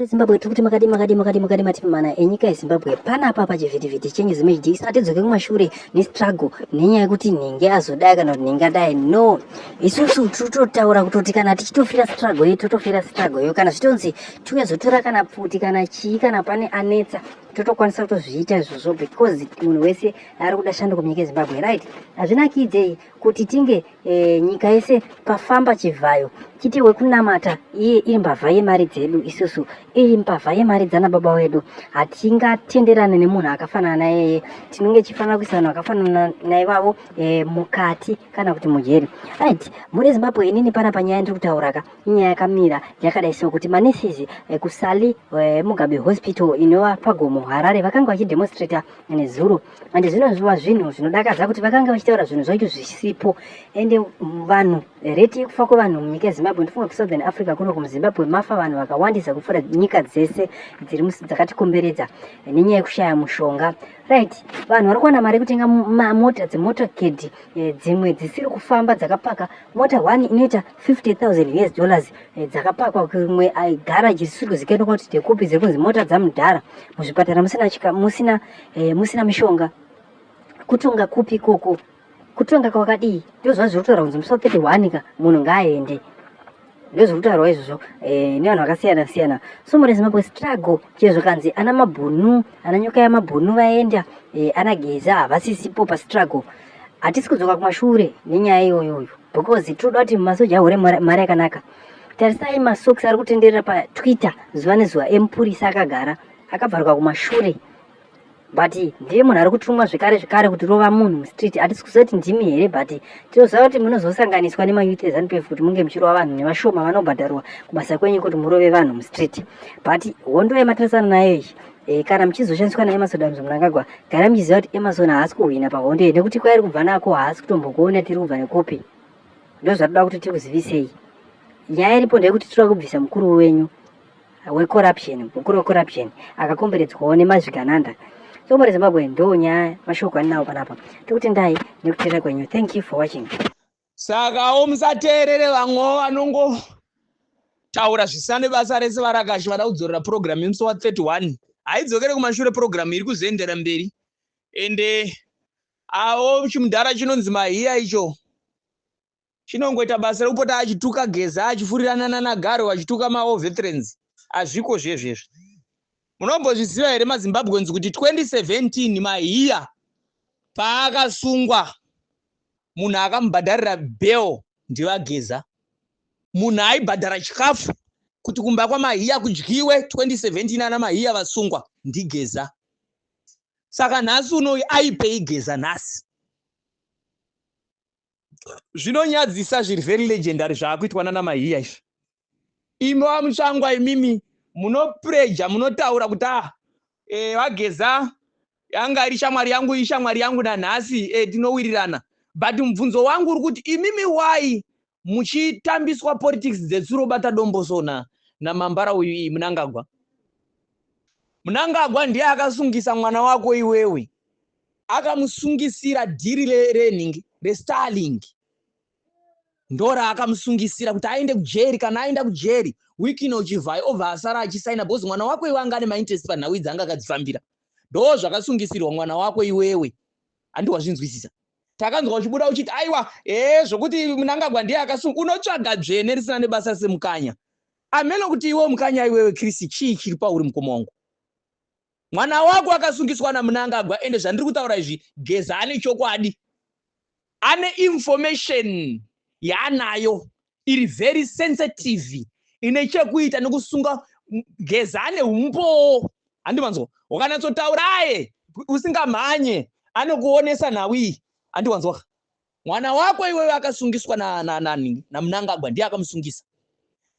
Zimbabwe tikuti makadii makadii makadii makadii matipi mana enyika yezimbabwe pana apa pachivhitivhiti chenyu zimhd isina tidzoke kumashure nestruggle nenyaya yekuti nhingi azodai kana kuti nhingi adai no isusu titotaura kutoti kana tichitofira struggle yedu totofira struggle yo kana zvitonzi tiuye zotora kana pfuti kana chii kana pane anetsa totokwanisa kutozviita izvozvo because munhu wese ari kuda shanduko munyika yezimbabwe right hazvinakidze kuti tinge e, nyika yese pafamba chivhayo chiti wekunamata iye iri mbavha yemari dzedu isusu iri mbavha yemari dzana baba wedu hatingatenderane nemunhu akafanana nayeye tinenge chifanira kuisa vanhu vakafanana naivavo e, mukati kana kuti mujeri right muri zimbabwe inini pana panyaya ndiri kutauraka inyaya yakamira yakadai so kuti manesizi e, kusali e, mugabe hospital inova pagomo harare vakanga vachidemonstrata nezuro and zvinonzwa zvinhu zvinodakadza kuti vakange vachitaura zvinhu zvacho zvisipo ende vanhu reti yekufa kwevanhu munyika yezimbabwe ndifunga kusouthern africa kuno kumuzimbabwe mafa vanhu vakawandisa kupfuura nyika dzese dziri dzakatikomberedza nenyaya yekushaya mushonga right vanhu vari kuwana mari yekutenga mota dzemota kedhi eh, dzimwe dzisiri kufamba dzakapaka mota one inoita 50 000 us dollars eh, dzakapakwa kumwe garaji risiri kuzikanwa kuti ndekupi dziri kunzi mota dzamudhara muzvipatara musina eh, musina mishonga kutonga kupi koko kutonga kwakadii ndozva zviri kutaura kunzi musi wa 31 ka munhu ngaaende ndozviri kutaurwa izvozvo eh, nevanhu vakasiyana siyana so murezimbabwe struggle chezvo kanzi ana mabhunu ana nyoka yamabhunu vaenda eh, ana geza havasisipo pastruggle hatisi kudzoka kumashure nenyaya iyoyoyo because tinoda kuti masoja ahure mari yakanaka tarisai masoks ari kutenderera patwitter zuva nezuva emupurisa akagara akabvaruka kumashure but ndiye munhu ari kutumwa zvekare zvekare kuti rova munhu mustreet hatisi kuziva kuti ndimi here but tinoziva kuti munozosanganiswa nemayouth ezanup f kuti munge muchirova vanhu nevashoma vanobhadharwa kubasa kwenyu kuti murove vanhu mustreet but hondo yamatirisana nayo iyi e, kana muchizoshandiswa naemason damzo munangagwa gara muchiziva kuti emason haasi kuhwina pahondo iyi nekuti kwairi kubva nako haasi kutombokuona tiri kubva nekupi ndozvatoda kuti tikuzivisei nyaya iripo ndeyekuti tiri kubvisa mukuru wenyu wecorruption gukuro wecorruption akakomberedzwawo nemazvigananda so mari zimbabwe ndo nyaya mashoko andinawo panapa tokutendai nekuteerera kwenyu thank you for watching sakawo musateerere vamwewo vanongotaura zvisane basa rese varakashi vada kudzorera purogiramu yemusi wa 31 haidzokere kumashure purogiramu iri kuzoendera mberi ende awo chimudhara chinonzi mahiya icho chinongoita basa rekupota achituka geza achifurirana nanagaro vachituka mawo veterans azviko zvezvezvo munombozviziva here mazimbabweans kuti 2017 mahiya paakasungwa munhu akamubhadharira bel ndivageza munhu aibhadhara chikafu kuti kumba kwamahiya kudyiwe 2017 ana mahiya vasungwa ndigeza saka nhasi unoyi aipei geza nhasi zvinonyadzisa zviri very legendary zvaakuitwa nana mahiya izvi imi vamutsvangwa imimi munopreja munotaura kuti a ah, eh, vageza yanga iri shamwari yangu ishamwari yangu nanhasi eh, tinowirirana but mubvunzo wangu uri kuti imimi why muchitambiswa politics dzetsuro bata dombosona namambara uyu iyi munangagwa munangagwa ndiye akasungisa mwana wako iwewe Akamusungisira dhiri renhingi reStarlink ndoraakamusungisira kuti aende kujeri kana aenda kujeri wiki ino uchivhai obva asara achisaina bhozi mwana wako iwe anga ane mainterest panhau idzi anga akadzifambira ndoo zvakasungisirwa mwana wako iwewe handi wazvinzwisisa takanzwa uchibuda uchiti aiwa ee zvokuti munangagwa ndiye akasunga unotsvaga dzvene risina nebasa semukanya ameno kuti iwe mukanya iwewe krisi chii chiri pauri mukoma wangu Mwana wako akasungiswa naMnangagwa ende zvandiri kutaura izvi Geza ane chokwadi. Ane information yaanayo iri very sensitive ine chekuita nekusunga Geza ane humbowo. Handi manzwa. Wakanatsotauraye usingamhanye anokuonesa nhau iyi. Handi wanzwa. Mwana wako iwewe akasungiswa na na na na Mnangagwa ndiye akamusungisa.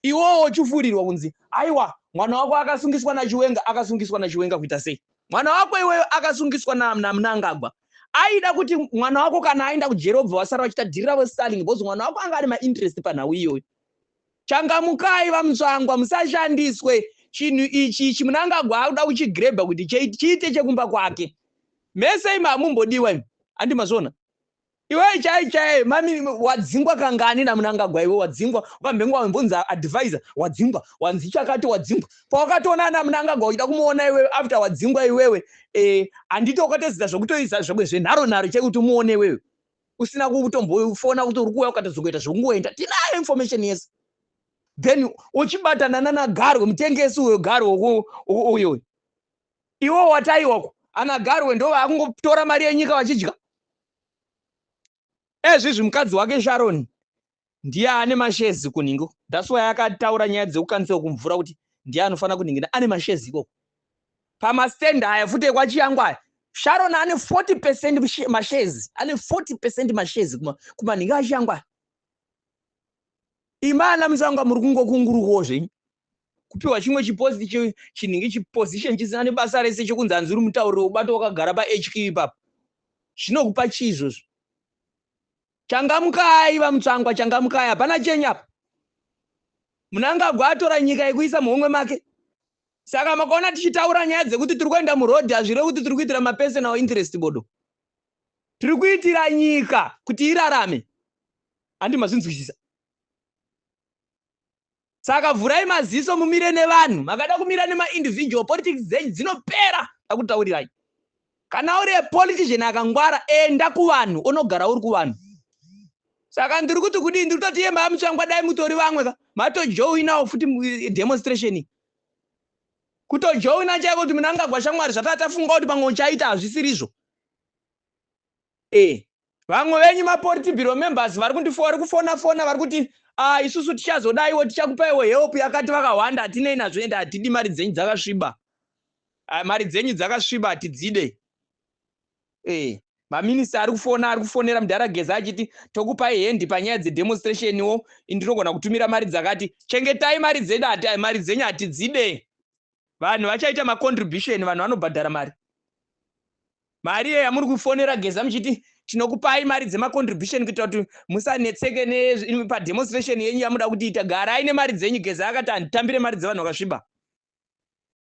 Iwowo ochufurirwa kunzi aiwa mwana wako akasungiswa na Chiwenga akasungiswa na Chiwenga kuita sei? Mwana wako iwewe akasungiswa na na Mnangagwa. Aida kuti mwana wako kana aenda kujeri obva wasara wachita dhiri ravo Starling because mwana wako anga ane ma interest panhau iyoyo. Changamukai vaMutsvangwa musashandiswe chinhu ichi ichi Mnangagwa akuda kuchigrebha kuti chiite chekumba kwake. Mese imi hamumbodiwa imi. Handi mazvona. iwe chai chai mami wadzingwa kangani namunangagwa iwe wadzingwa ukambenge wambonzi advisor wadzingwa wanzi chakati wadzingwa pawakatoona ana munangagwa uchida kumuona iwewe after wadzingwa iwewe eh, handiti e, ukatozita zvekutoisa zvekwe zvenharo nharo chai kuti umuone iwewe usina kutombofona kuti uri kuuya ukatozongoita zvekungoenda tinayo information yese then uchibatana nanagarwe mutengesi uyo garwe uyo iwo wataiwako anagarwe ndo vakungotora mari yenyika vachidya ezvizvi mukadzi wake sharon ndiye ane mashezi kunhingo thats why akataura nyaya dzekukanisa kumvura kuti ndiye anofanira kunhingina ane mashezi ikoko pamastend aya futi ekwachiyangu aya sharon ane 40 percent mashezi ane 40 percent mashezi kumanhinga achiyangu aya imana musanga muri kungokungurukawo zvenyu kupiwa chimwe chipost chinenge chiposition chisina nebasa rese chokunzi hanzi uri mutauriro ubato wakagara pahq ipapo zvinokupa chii izvozvo changamukai vamutsvangwa changamukai hapana chenyu apa munangagwa atora nyika yekuisa muhomwe make saka makaona tichitaura nyaya dzekuti tiri kuenda murodhi hazvireve kuti tiri kuitira mapersonal interest bodo tiri kuitira nyika kuti irarame handi mazvinzwisisa Saka vhurai maziso mumire nevanhu. Makada kumira nemaindividual politics dzenyu dzinopera ndakutaurirai. Kana uri politician akangwara enda kuvanhu onogara uri kuvanhu. Saka ndiri kuti kudii ndiri kutoti yemba yamutsvangwa dai mutori vamwe ka matojoinawo futi eh, demonstration iyi. Kutojoina chaiko kuti munangagwa shamwari zvatatafunga kuti pamwe uchaita hazvisirizvo. Eh. vamwe venyu mapolitibiro members vari kundifo vari kufona fona vari kuti ah, isusu tichazodaiwo tichakupaiwo help yakati vakahwanda hatinei nazvo ende hatidi mari dzenyu dzakasviba ah, mari dzenyu dzakasviba hatidzide eh, maminista ari kufona ari kufonera mudhara geza achiti tokupai hendi panyaya dzedemonstrationiwo indirogona kutumira mari dzakati chengetai mari dzedu mari dzenyu hatidzide vanhu vachaita macontribution vanhu vanobhadhara mari mari iyo yamuri kufonera geza muchiti tinokupai mari dzemacontribution kuita kuti musanetseke nepademonstration yenyu yamuda kutiita garai nemari dzenyu geza akati handitambire mari dzevanhu vakasviba